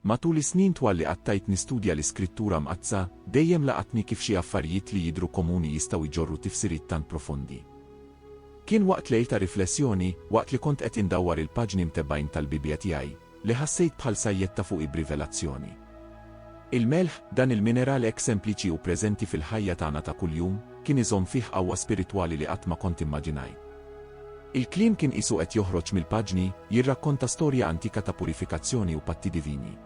Matul is-snin twal li qattajt nistudja l-Iskrittura Mqaddsa, dejjem laqatni kif xi affarijiet li jidhru komuni jistgħu jġorru tifsiriet tant profondi. Kien waqt lejl ta' riflessjoni, waqt li kont qed indawwar il-paġni mtebbgħin tal-Bibbja tiegħi, li ħassejt bħal sajjetta fuqi b'rivelazzjoni. Il-melħ, dan il-mineral hekk sempliċi u preżenti fil-ħajja tagħna ta' kuljum, kien iżomm fih qawwa spiritwali li qatt ma kont immaġinajt. Il-kliem kien qisu qed joħroġ mill-paġni, jirrakkonta storja antika ta' purifikazzjoni u patti divini.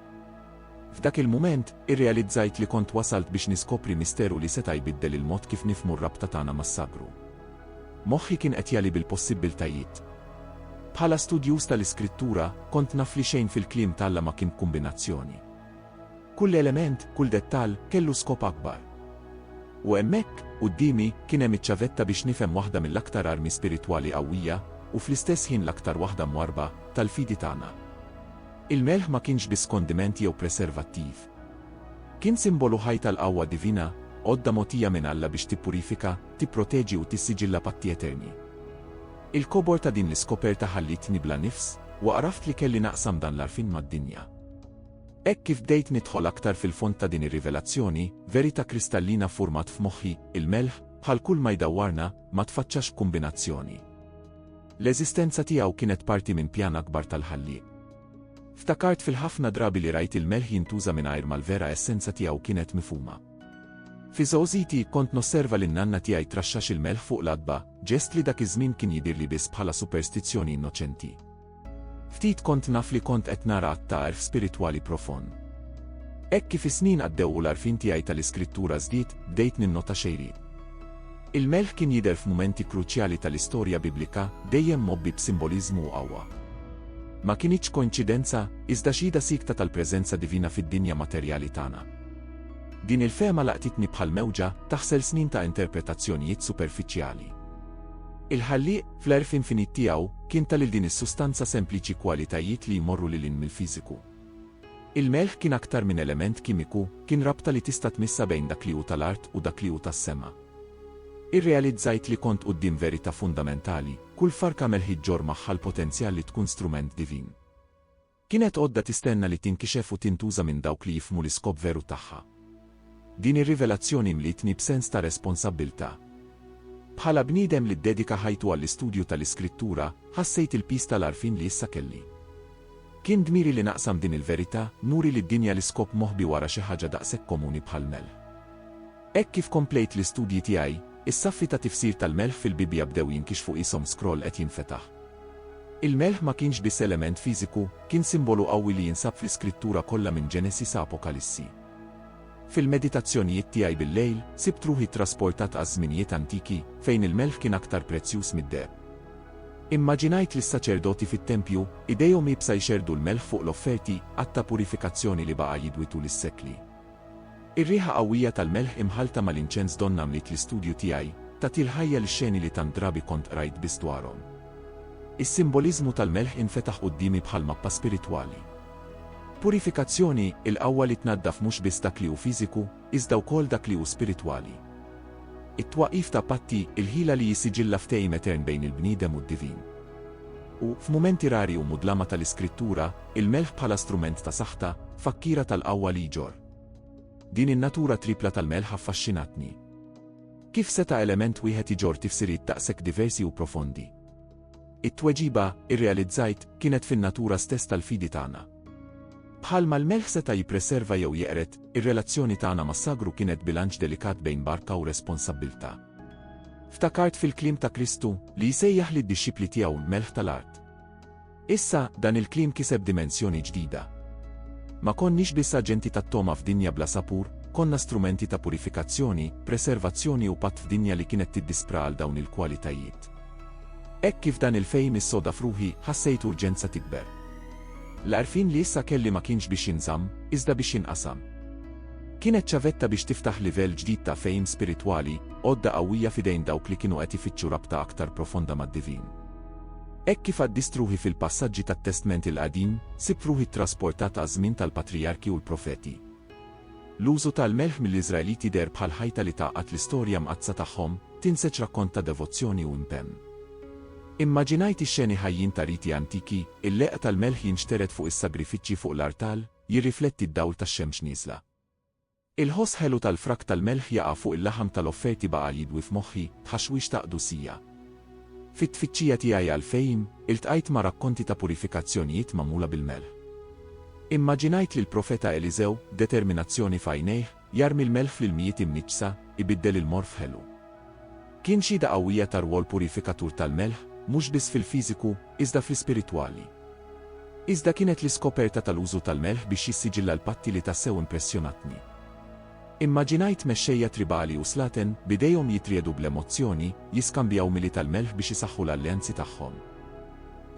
F'dak il-mument, irrealizzajt li kont wasalt biex niskopri misteru li seta' jbiddel il-mod kif nifhmu r-rabta tagħna mas-sagru. Moħħi kien qed jagħli bil-possibbiltajiet. Bħala studjuż tal-Iskrittura, kont naf li xejn fil-kliem t'Alla ma kien b'kumbinazzjoni. Kull element, kull dettall, kellu skop akbar. U hemmhekk, quddiemi, kien hemm iċ-ċavetta biex nifhem waħda mill-aktar armi spiritwali qawwija, u fl-istess ħin l-aktar waħda mwarrba, tal-fidi tagħna. Il-melħ ma kienx biss kondiment jew preservattiv. Kien simbolu ħaj tal-qawwa divina, għodda mogħtija minn Alla biex tippurifika, tipproteġi u tissiġilla patti eterni. Il-kobor ta' din l-iskoperta ħallietni bla nifs, u għaraft li kelli naqsam dan l-għarfien mad-dinja. Hekk kif bdejt nidħol aktar fil-fond ta' din ir-rivelazzjoni, verità kristallina ffurmat f'moħħi, il-melħ, bħal kull ma jdawwarna, ma tfaċċax b'kumbinazzjoni. L-eżistenza tiegħu kienet parti minn pjan akbar tal-Ħallieq. Ftakart fil-ħafna drabi li rajt il-melħ jintuża mingħajr ma l-vera essenza tiegħu kienet mifhuma. Fi żgħożiti kont nosserva lin nanna tiegħi traxxax il-melħ fuq l-adba, ġest li dak iż-żmien kien jidhirli biss bħala superstizzjoni innoċenti. Ftit kont naf li kont qed nara att ta' għerf spiritwali profond. Hekk kif is-snin għaddew u l-għarfien tiegħi tal-Iskrittura żdied, bdejt ninnota xejriet. Il-melħ kien jidher f'mumenti kruċjali tal-istorja Biblika, dejjem mgħobbi b'simboliżmu u qawwa. Ma kinitx koinċidenza, iżda xhieda siekta tal-preżenza divina fid-dinja materjali tagħna. Din il-fehma laqtitni bħal mewġa taħsel snin ta' interpretazzjonijiet superfiċjali. Il-Ħallieq, Fl-għerf infinit tiegħu, kien ta lil din is-sustanza sempliċi kwalitajiet li jmorru lil hinn mill-fiżiku. Il-melħ kien aktar minn element kimiku, kien rabta li tista' tmissha bejn dak li hu ta' l-art u dak li hu tas-sema. Irrealizzajt li kont quddiem verità fundamentali, kull farka melħi ġġorr magħha l-potenzjal li tkun strument divin. Kienet għodda tistenna li tinkixef u tintuża minn dawk li jifhmu l-iskop veru tagħha. Din ir-rivelazzjoni mlietni b'sens ta' responsabbiltà. Bħala bniedem li ddedika ħajtu għall-istudju tal-Iskrittura, ħassejt il-piż tal-għarfien li issa kelli. Kien dmiri li naqsam din il-verità, nuri lid-dinja l-iskop moħbi wara xi ħaġa daqshekk komuni bħall-melħ. Hekk kif komplejt l-istudji tiegħi, is-saffi ta' tifsir tal-melħ fil-Bibbja bdew jinkixfu qishom scroll qed jinfetaħ. Il-melħ ma kienx biss element fiżiku, kien simbolu qawwi li jinsab fl-Iskrittura kollha minn Ġenesi sa Apokalissi. Fil-meditazzjonijiet tiegħi bil-lejl, sibt ruħi ttrasportat għaż-żminijiet antiki, fejn il-melħ kien aktar prezzjuż mid-deheb. Immaġinajt lis-saċerdoti fit-tempju, idejhom iebsa jxerrdu l-melħ fuq l-offerti, att ta' purifikazzjoni li baqa' jidwi tul is-sekli. Ir-riħa qawwija tal-melħ imħallta mal-inċens donnha mliet l-istudju tiegħi, tagħtil ħajja lix-xeni li tant drabi kont qrajt biss dwarhom. Is-simboliżmu tal-melħ infetaħ quddiemi bħal mappa spiritwali. Purifikazzjoni, il-qawwa li tnaddaf mhux biss dak li hu fiżiku, iżda wkoll dak li hu spiritwali. It-twaqqif ta' patti, il-ħila li jissiġilla ftehim etern bejn il-bniedem u d-divin. U, f'mumenti rari u mudlama tal-Iskrittura, il-melħ bħala strument ta' saħta, fakkiera tal-qawwa li jġorr. Din in-natura trippla tal-melħ affaxxinatni. Kif seta' element wieħed iġorr tifsiriet daqshekk diversi u profondi? It-tweġiba, irrealizzajt, kienet fin-natura stess tal-fidi tagħna. Bħalma l-melħ seta' jippreserva jew jeqred, ir-relazzjoni tagħna mas-sagru kienet bilanċ delikat bejn barka u responsabbiltà. Ftakart fil-kliem ta' Kristu li jsejjaħ lid-dixxipli tiegħu l-melħ tal-art. Issa, dan il-kliem kiseb dimensjoni ġdida. Ma konniex biss aġenti tat-togħma f'dinja bla sapur, konna strumenti ta' purifikazzjoni, preservazzjoni u patt f'dinja li kienet tiddispra għal dawn il-kwalitajiet. Hekk kif dan il-fehim issoda f'ruħi, ħassejt urġenza tikber. L-għarfien li issa kelli ma kienx biex jinżamm, iżda biex jinqasam. Kienet ċavetta biex tiftaħ livell ġdid ta' fehim spiritwali, għodda qawwija f'idejn dawk li kienu qed ifittxu rabta aktar profonda mad-divin. Hekk kif qaddist ruħi fil-passaġġi tat-Testment il-Qadim, sibt ruħi ttrasportat għaż-żmien tal-patrijarki u l-profeti. L-użu tal-melħ mill-Iżraeliti deher bħal ħajta li tgħaqqad l-istorja mqaddsa tagħhom, tinseġ rakkont ta' devozzjoni u impenn. Immaġinajt ix-xeni ħajjin ta' riti antiki, il-leqq tal-melħ jinxtered fuq is-sagrifiċċji fuq l-artal, jirrifletti d-dawl tax-xemx nieżla. Il-ħoss ħelu tal-frak tal-melħ jaqa' fuq il-laħam tal-offerti baqa' jidwi f'moħħi, tħaxwix ta' qdusija. Fit-tfittxija tiegħi għall-fehim, iltqajt ma' rakkonti ta' purifikazzjonijiet magħmula bil-melħ. Immaġinajt lill-Profeta Eliżew, determinazzjoni f'għajnejh, Jarmi l-melħ fl-ilmijiet imniġġsa, ibiddel il-morr f'ħelu. Kien xhieda qawwija tar-rwol purifikatur tal-melħ, mhux biss fil-fiżiku, iżda fl-ispiritwali. Iżda kienet l-iskoperta tal-użu tal-melħ biex jissiġilla l-patti li tassew impressjonatni. Immaġinajt mexxejja tribali u slaten, b'idejhom jitriegħdu bl-emozzjoni, jiskambjaw mili tal-melħ biex isaħħu l-alleanzi tagħhom.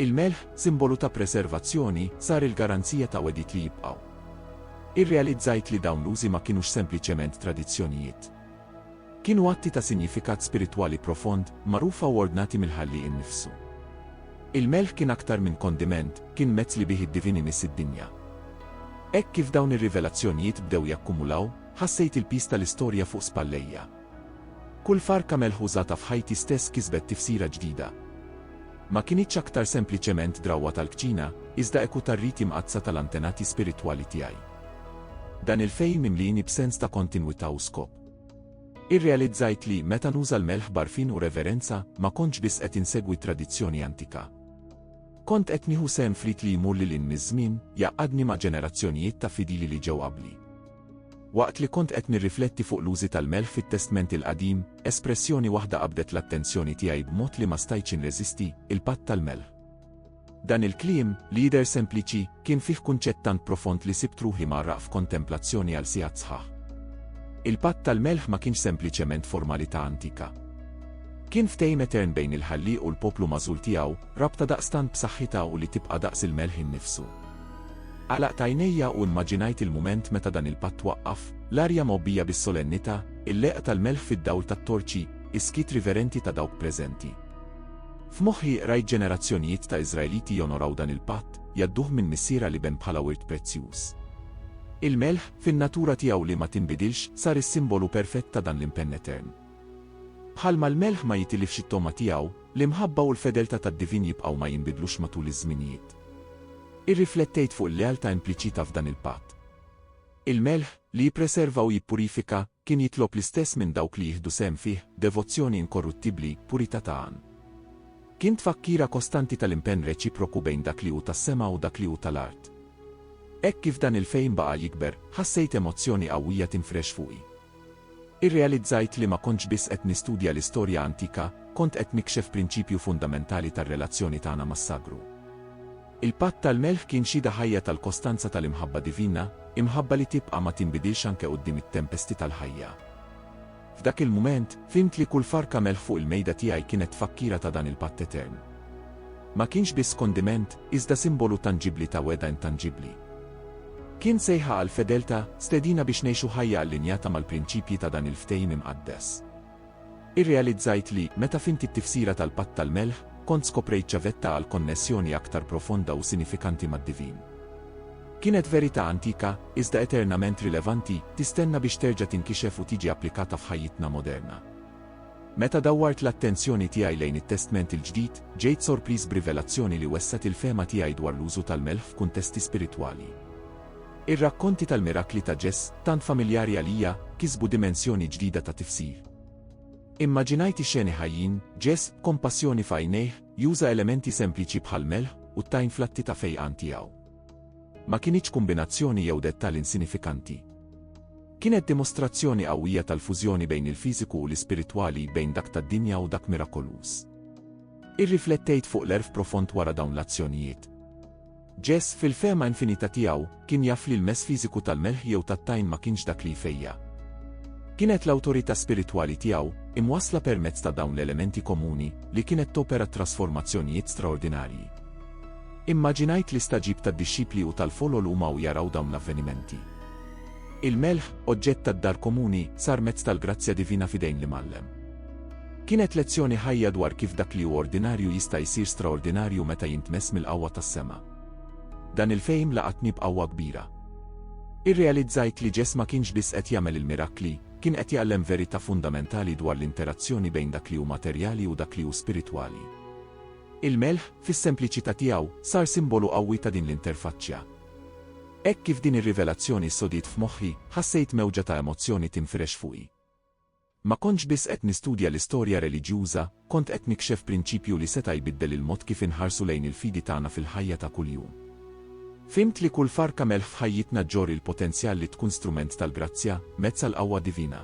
Il-melħ, simbolu ta' preservazzjoni, sar il-garanzija ta' wegħdiet li jibqgħu. Irrealizzajt li dawn l-użi ma kinux sempliċement tradizzjonijiet. Kienu atti ta' sinjifikat spiritwali profond, magħrufa u ordnati mill-Ħallieq innifsu. Il-melħ kien aktar minn kondiment, kien mezz li bih id-divin imiss id-dinja. Hekk kif dawn ir-rivelazzjonijiet bdew jakkumulaw, ħassejt il-piż tal-istorja fuq spallejja. Kull farka melħ użata f'ħajti stess kisbet tifsira ġdida. Ma kinitx aktar sempliċement drawwa tal-kċina, iżda eku tar-riti mqaddsa tal-antenati spiritwali tiegħi. Dan il-fehim imlieni b'sens ta' kontinwità u skop. Irrealizzajt li, meta nuża l-melħ b'għarfien u reverenza, ma kontx biss qed insegwi tradizzjoni antika. Kont qed nieħu sehem f'rit li jmur lil hinn miż-żmien, jgħaqqadni ma' ġenerazzjonijiet ta' fidili li ġew qabli. Waqt li kont qed nirrifletti fuq l-użi tal-melħ fit-Testment il-Qadim, espressjoni waħda qabdet l-attenzjoni tiegħi b'mod li ma stajtx inreżisti, il-patt tal-melħ. Dan il-kliem, li jidher sempliċi, kien fih kunċett tant profond li sibt ruħi mgħarraq f'kontemplazzjoni għal sigħat sħaħ. Il-patt tal-melħ ma kienx sempliċement formalità antika. Kien ftehim etern bejn il-Ħallieq u l-poplu magħżul tiegħu, rabta daqstant b'saħħitha u li tibqa' daqs il-melħ innifsu. Għalaqt għajnejja u immaġinajt il-mument meta dan il-patt waqqaf, l-arja mgħobbija bis-solennità, il-leqgħa tal-melħ fid-dawl tat-torċi, is-skiet riverenti ta' dawk preżenti. F'moħħi qrajt ġenerazzjonijiet ta' Iżraeliti jonoraw dan il-patt, jgħadduh minn missier għal iben bħala wirt prezzjuż. Il-melħ, fin-natura tiegħu li ma tinbidilx, sar is-simbolu perfett ta' dan l-impenn etern. Bħalma l-melħ ma jitilifx it-togħma tiegħu, l-imħabba u l-fedeltà tad-divin jibqgħu ma jinbidlux matul iż-żminijiet. Irriflettejt fuq il-lealtà impliċita f'dan il-patt. Il-melħ, li jippreserva u jippurifika, kien jitlob l-istess minn dawk li jieħdu sehem fih, devozzjoni inkorruttibbli, purità ta' għan. Kien tfakkira kostanti tal-impenn reċiproku bejn dak li hu tas-sema u dak li hu tal-art. Hekk kif dan il-fehim baqa' jikber, ħassejt emozzjoni qawwija tinfrex fuqi. Irrealizzajt li ma kontx biss qed nistudja l-istorja antika, kont qed nikxef prinċipju fundamentali tar-relazzjoni tagħna mas-sagru. Il-Patt tal-Melħ kien xhieda ħajja tal-kostanza tal-imħabba divina, imħabba li tibqa' ma tinbidilx anke quddiem it-tempesti tal-ħajja. F'dak il-mument, fhimt li kull farka melħ fuq il-mejda tiegħi kienet tfakkira ta' dan il-patt etern. Ma kienx biss kondiment, iżda simbolu tanġibbli ta' wegħda intanġibbli. Kien sejħa għall-fedeltà, stedina biex ngħixu ħajja allinjata mal-prinċipji ta' dan il-Ftehim Imqaddes. Irrealizzajt li, meta fhimt it-tifsira tal-Patt tal-Melħ, kont skoprejt ċavetta għal konnessjoni aktar profonda u sinifikanti mad-divin. Kienet verità antika, iżda eternament rilevanti, tistenna biex terġa' tinkixef u tiġi applikata f'ħajjitna moderna. Meta dawwart l-attenzjoni tiegħi lejn it-Testment il-Ġdid, ġejt sorpriż b'rivelazzjoni li wessgħet il-fehma tiegħi dwar l-użu tal-melħ f'kuntesti spiritwali. Ir-rakkonti tal-mirakli ta' Ġess, tant familjari għalija, kisbu dimensjoni ġdida ta' tifsir. Immaġinajt ix-xeni ħajjin, Ġess, b'kompassjoni f'għajnejh, juża elementi sempliċi bħall-melħ u t-tajn fl-atti ta' fejqan tiegħu. Ma kinitx kumbinazzjoni jew dettall insinifikanti. Kienet dimostrazzjoni qawwija tal-fużjoni bejn il-fiżiku u l-ispiritwali, bejn dak tad-dinja u dak mirakoluż. Irriflettejt fuq l-għerf profond wara dawn l-azzjonijiet. Jess, fil-fehma infinita tiegħu, kien jaf li l-mess fiżiku tal-melħ jew tat-tajn ma kienx dak li jfejja'. Kienet l-awtorità spiritwali tiegħu, imwassla permezz ta' dawn l-elementi komuni, li kienet topera trasformazzjonijiet straordinarji. Immaġinajt l-istaġib tad-dixxipli u tal-folol huma u jaraw dawn l-avvenimenti. Il-melħ, oġġett tad-dar komuni, sar mezz tal-grazzja divina f'idejn l-Imgħallem. Kienet lezzjoni ħajja dwar kif dak li hu ordinarju jista' jsir straordinarju meta jintmess mill-qawwa tas-sema. Dan il-fehim laqatni b'qawwa kbira. Irrealizzajt li Ġesù ma kienx biss qed jagħmel il-mirakli, kien qed jgħallem verità fundamentali dwar l-interazzjoni bejn dak li hu materjali u dak li hu spiritwali. Il-melħ, fis-sempliċità tiegħu, sar simbolu qawwi ta' din l-interfaċċja. Hekk kif din ir-rivelazzjoni ssodiet f'moħħi, ħassejt mewġa ta' emozzjoni tinfirex fuqi. Ma kontx biss qed nistudja l-istorja reliġjuża, kont qed nikxef prinċipju li seta' jbiddel il-mod kif inħarsu lejn il-fidi tagħna fil-ħajja ta' kuljum. Fhimt li kull farka melħ f'ħajjitna ġġorr il-potenzjal li tkun strument tal-grazzja, mezz għall-qawwa divina.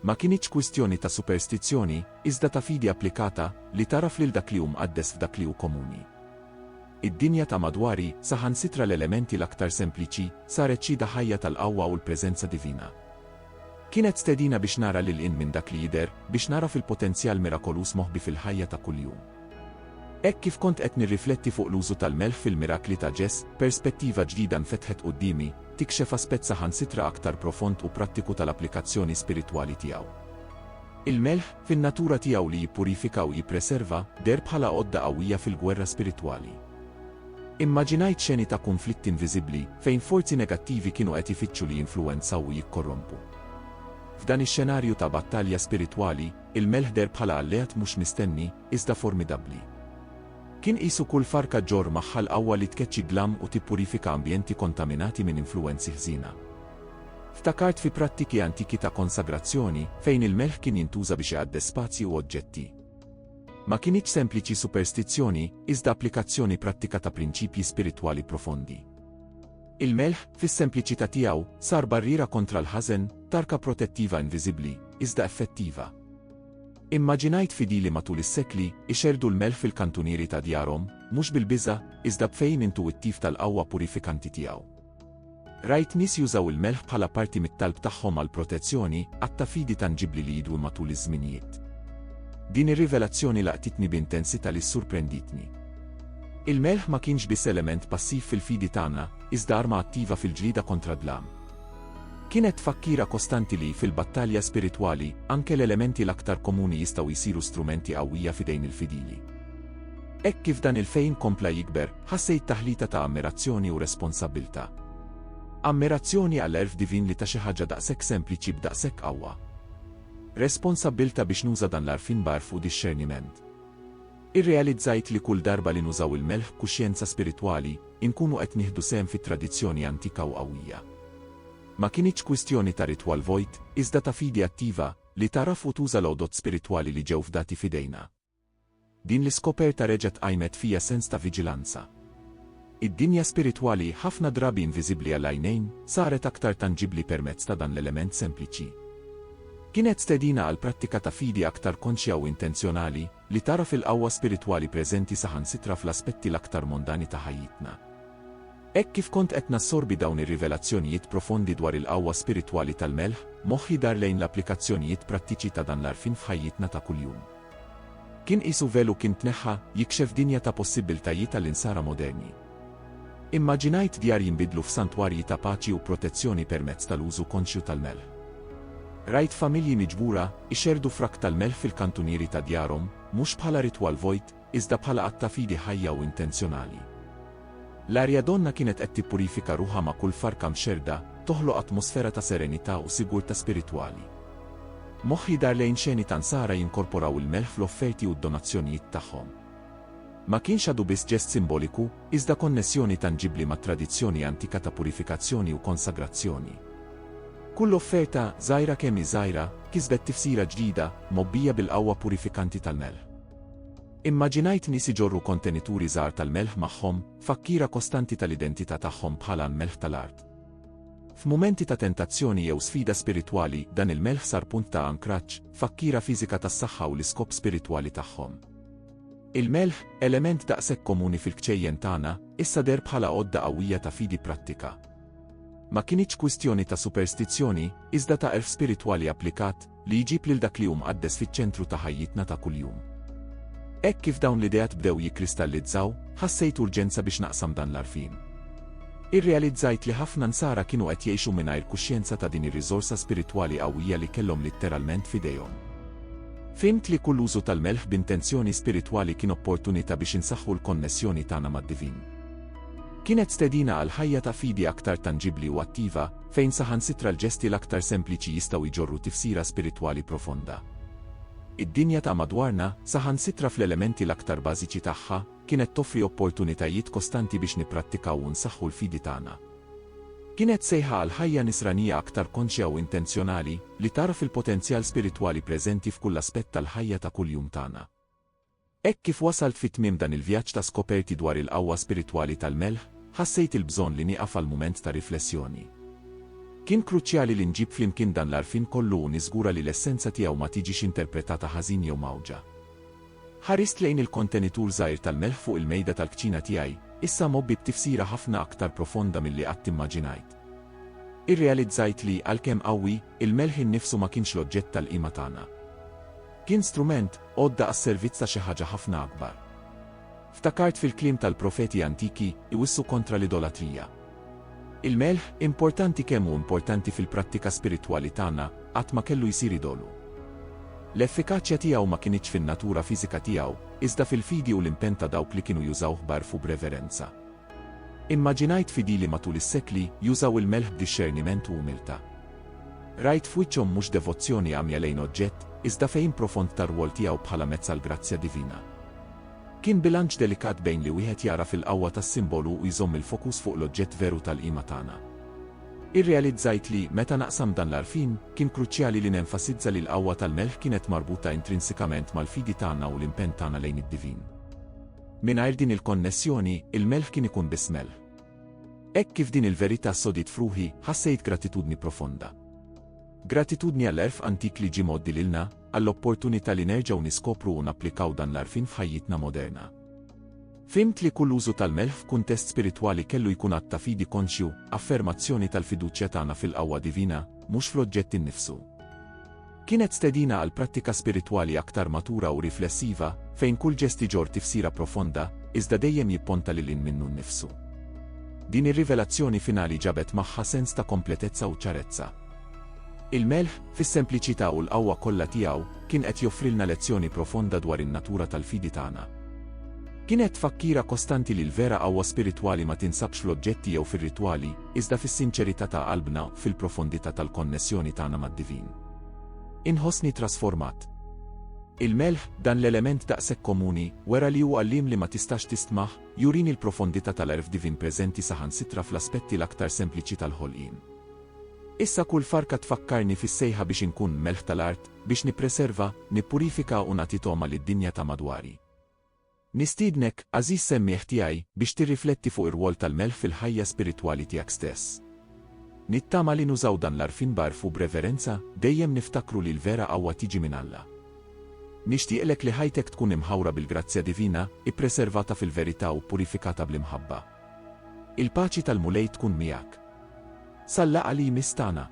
Ma kinitx kwistjoni ta' superstizzjoni, iżda ta' fidi applikata, li tagħraf lil dak li hu mqaddes f'dak li hu komuni. Id-dinja ta' madwari, saħansitra l-elementi l-aktar sempliċi, saret xhieda ħajja tal-qawwa u l-preżenza divina. Kienet stedina biex nara lil hinn minn dak li jidher, biex nagħraf il-potenzjal mirakoluż moħbi fil-ħajja ta' kuljum. Hekk kif kont qed nirrifletti fuq l-użu tal-melħ fil-mirakli ta' Ġess, perspettiva ġdida nfetħet quddiemi, tikxef aspett saħansitra aktar profond u prattiku tal-applikazzjoni spiritwali tiegħu. Il-melħ, fin-natura tiegħu li jippurifika u jippreserva, deher bħala għodda qawwija fil-gwerra spiritwali. Immaġinajt xeni ta' kunflitti inviżibbli, fejn forzi negattivi kienu qed ifittxu li jinfluwenzaw u jikkorrompu. F'dan ix-xenarju ta' battalja spiritwali, il-melħ deher bħala alleat mhux mistenni, iżda formidabbli. Kien qisu kull farka ġġorr magħha l-qawwa li tkeċċi d-dlam u tippurifika ambjenti kontaminati minn influwenzi ħżiena. Ftakart fi prattiki antiki ta' konsagrazzjoni, fejn il-melħ kien jintuża biex iqaddes spazji u oġġetti. Ma kinitx sempliċi superstizzjoni, iżda applikazzjoni prattika ta' prinċipji spiritwali profondi. Il-melħ, fis-sempliċità tiegħu, sar barriera kontra l-ħażen, tarka protettiva inviżibbli, iżda effettiva. Immaġinajt fidili matul is-sekli ixerdu l-melħ fil-kantunieri ta' djarhom, mhux bil-biża', iżda b'fehim intuwittiv tal-qawwa purifikanti tiegħu. Rajt nies jużaw il-melħ bħala parti mit-talb tagħhom għall-protezzjoni, att ta' fidi tanġibbli li jidum matul iż-żminijiet. Din ir-rivelazzjoni laqtitni b'intensità li ssurprenditni. Il-melħ ma kienx biss element passiv fil-fidi tagħna, iżda arma attiva fil-ġlieda kontra d-dlam. Kienet tfakkira kostanti li, fil-battalja spiritwali, anke l-elementi l-aktar komuni jistgħu jsiru strumenti qawwija f'idejn il-fidili. Hekk kif dan il-fehim kompla jikber, Ħassejt taħlita ta' ammirazzjoni u responsabbiltà. Ammirazzjoni għall-għerf divin li ta xi ħaġa daqshekk sempliċi b'daqshekk qawwa. Responsabbiltà biex nuża dan l-għarfien b'għarf u dixxerniment. Irrealizzajt li kull darba li nużaw il-melħ b'kuxjenza spiritwali, inkunu qed nieħdu sehem fi tradizzjoni antika u qawwija. Ma kinitx kwistjoni ta' ritwal vojt, iżda ta' fidi attiva, li tagħraf u tuża l-għodod spiritwali li ġew fdati f'idejna. Din l-iskoperta reġgħet qajmet fija sens ta' viġilanza. Id-dinja spiritwali, ħafna drabi inviżibbli għall-għajnejn, saret aktar tanġibbli permezz ta' dan l-element sempliċi. Kienet stedina għal prattika ta' fidi aktar konxja u intenzjonali, li tagħraf il-qawwa spiritwali preżenti saħansitra fl-aspetti l-aktar mondani ta' ħajjitna. Hekk kif kont qed nassorbi dawn ir-rivelazzjonijiet profondi dwar il-qawwa spiritwali tal-melħ, moħħi dar lejn l-applikazzjonijiet prattiċi ta' dan l-għarfien f'ħajjitna ta' kuljum. Kien qisu velu kien tneħħa, jikxef dinja ta' possibbiltajiet għall-insara moderni. Immaġinajt djar jinbidlu f'santwarji ta' paċi u protezzjoni permezz tal-użu konxju tal-melħ. Rajt familji miġbura, ixerrdu frak tal-melħ fil-kantunieri ta' djarhom, mhux bħala ritwal vojt, iżda bħala att ta' fidi ħajja u intenzjonali. L-Arjadonna kienet qed tippurifika ruħha ma' kull farka mxerrda, toħloq atmosfera ta' serenità u sigurtà spiritwali. Moħħi dar lejn xeni ta' Nsara jinkorporaw il-melħ fl-offerti u d-donazzjonijiet tagħhom. Ma kienx għadu biss ġest simboliku, iżda konnessjoni tanġibbli mat-tradizzjoni antika ta' purifikazzjoni u konsagrazzjoni. Kull offerta, żgħira kemm hi żgħira, kisbet tifsira ġdida, mgħobbija bil-qawwa purifikanti tal-melħ. Immaġinajt nies iġorru kontenituri żgħar tal-melħ magħhom, fakkiera kostanti tal-identità tagħhom bħala l-melħ tal-art. F'mumenti ta' tentazzjoni jew sfida spiritwali, dan il-melħ sar punt ta' ankraġġ, fakkiera fiżika tas-saħħa u l-iskop spiritwali tagħhom. Il-melħ, element daqshekk komuni fil-kċejjen tagħna, issa deher bħala għodda qawwija ta' fidi prattika. Ma kinitx kwistjoni ta' superstizzjoni, iżda ta' għerf spiritwali applikat, li jġib lil dak li hu mqaddes fiċ-ċentru ta' ħajjitna ta' kuljum. Hekk kif dawn l-ideat bdew jikkristallizzaw, ħassejt urġenza biex naqsam dan l-għarfien. Irrealizzajt li ħafna Nsara kienu qed jgħixu mingħajr kuxjenza ta' din ir-riżorsa spiritwali qawwija li kellhom litteralment f'idejhom. Fhimt li kull użu tal-melħ b'intenzjoni spiritwali kien opportunità biex insaħħu l-konnessjoni tagħna mad-divin. Kienet stedina għal ħajja ta' fidi aktar tanġibbli u attiva, fejn saħansitra l-ġesti l-aktar sempliċi jistgħu jġorru tifsira spiritwali profonda. Id-dinja ta' madwarna, saħansitra fl-elementi l-aktar bażiċi tagħha, kienet toffri opportunitajiet kostanti biex nipprattikaw u nsaħħu l-fidi tagħna. Kienet sejħa għal ħajja nisranija aktar konxja u intenzjonali, li tagħraf il-potenzjal spiritwali preżenti f'kull aspett tal-ħajja ta' kuljum tagħna. Hekk kif wasalt fi tmiem dan il-vjaġġ ta' skoperti dwar il-qawwa spiritwali tal-melħ, ħassejt il-bżonn li nieqaf għal mument ta' riflessjoni. Kien kruċjali li nġib flimkien dan l-għarfien kollu u niżgura li l-essenza tiegħu ma tiġix interpretata ħażin jew mgħawġa. Ħarist lejn il-kontenitur żgħir tal-melħ fuq il-mejda tal-kċina tiegħi, issa mgħobbi b'tifsira ħafna aktar profonda milli qatt immaġinajt. Irrealizzajt li, għalkemm qawwi, il-melħ innifsu ma kienx l-oġġett tal-qima tagħna. Kien strument, għodda għas-servizz ta' xi ħaġa ħafna akbar. Ftakart fil-kliem tal-profeti antiki, iwissu kontra l-idolatrija. Il-melħ, importanti kemm hu importanti fil-prattika spiritwali tagħna, qatt ma kellu jsir idolu. L-effikaċja tiegħu ma kinitx fin-natura fiżika tiegħu, iżda fil-fidi u l-impenn ta' dawk li kienu jużawh b'għerf u b'reverenza. Immaġinajt fidili matul is-sekli jużaw il-melħ b'dixxerniment u umiltà. Rajt f'wiċċhom mhux devozzjoni għamja lejn oġġett, iżda fehim profond tar-rwol tiegħu bħala mezz għall-grazzja divina. Kien bilanċ delikat bejn li wieħed jagħraf il-qawwa tas-simbolu u jżomm il-fokus fuq l-oġġett veru tal-qima tagħna. Irrealizzajt li, meta naqsam dan l-għarfien, kien kruċjali li nenfasizza li l-qawwa tal-melħ kienet marbuta intrinsikament mal-fidi tagħna u l-impenn tagħna lejn id-divin. Mingħajr din il-konnessjoni, il-melħ kien ikun biss melħ. Hekk kif din il-verità sodiet f'ruħi, ħassejt gratitudni profonda. Gratitudni għall-għerf antik li ġie mgħoddi lilna, għall-opportunità li nerġgħu niskopru u napplikaw dan l-għarfien f'ħajjitna moderna. Fhimt li kull użu tal-melħ f'kuntest spiritwali kellu jkun att ta' fidi konxju, affermazzjoni tal-fiduċja tagħna fil-qawwa divina, mhux fl-oġġett innifsu. Kienet stedina għal prattika spiritwali aktar matura u riflessiva, fejn kull ġest iġorr tifsira profonda, iżda dejjem jipponta lil hinn minnu nnifsu. Din ir-rivelazzjoni finali ġabet magħha sens ta' kompletezza u ċarezza. Il-Melħ, fis-sempliċità u l-qawwa kollha tiegħu, kien qed joffrilna lezzjoni profonda dwar in-natura tal-fidi tagħna. Kienet tfakkira kostanti li l-vera qawwa spiritwali ma tinsabx fl-oġġetti jew fir-ritwali, iżda fis-sinċerità ta' qalbna, fil-profondità tal-konnessjoni tagħna mad-divin. Inħossni trasformat. Il-melħ, dan l-element daqshekk komuni, wera li hu għalliem li ma tistax tistmah, jurini l-profondità tal-għerf divin preżenti saħansitra fl-aspetti l-aktar sempliċi tal-ħolqien. Issa kull farka tfakkarni fis-sejħa biex inkun melħ tal-art, biex nippreserva, nippurifika u nagħti togħma lid-dinja ta' madwari. Nistiednek, għażiż semmiegħ tiegħi, biex tirrifletti fuq ir-rwol tal-melħ fil-ħajja spiritwali tiegħek stess. Nittama li nużaw dan l-għarfien b'għarf u b'reverenza, dejjem niftakru li l-vera qawwa tiġi minn Alla. Nixtieqlek li ħajtek tkun imħawra bil-grazzja divina, ippreservata fil-verità u ppurifikata bl-imħabba. Il-paċi tal-Mulej tkun miegħek. Sal-laqgħa li jmiss tagħna.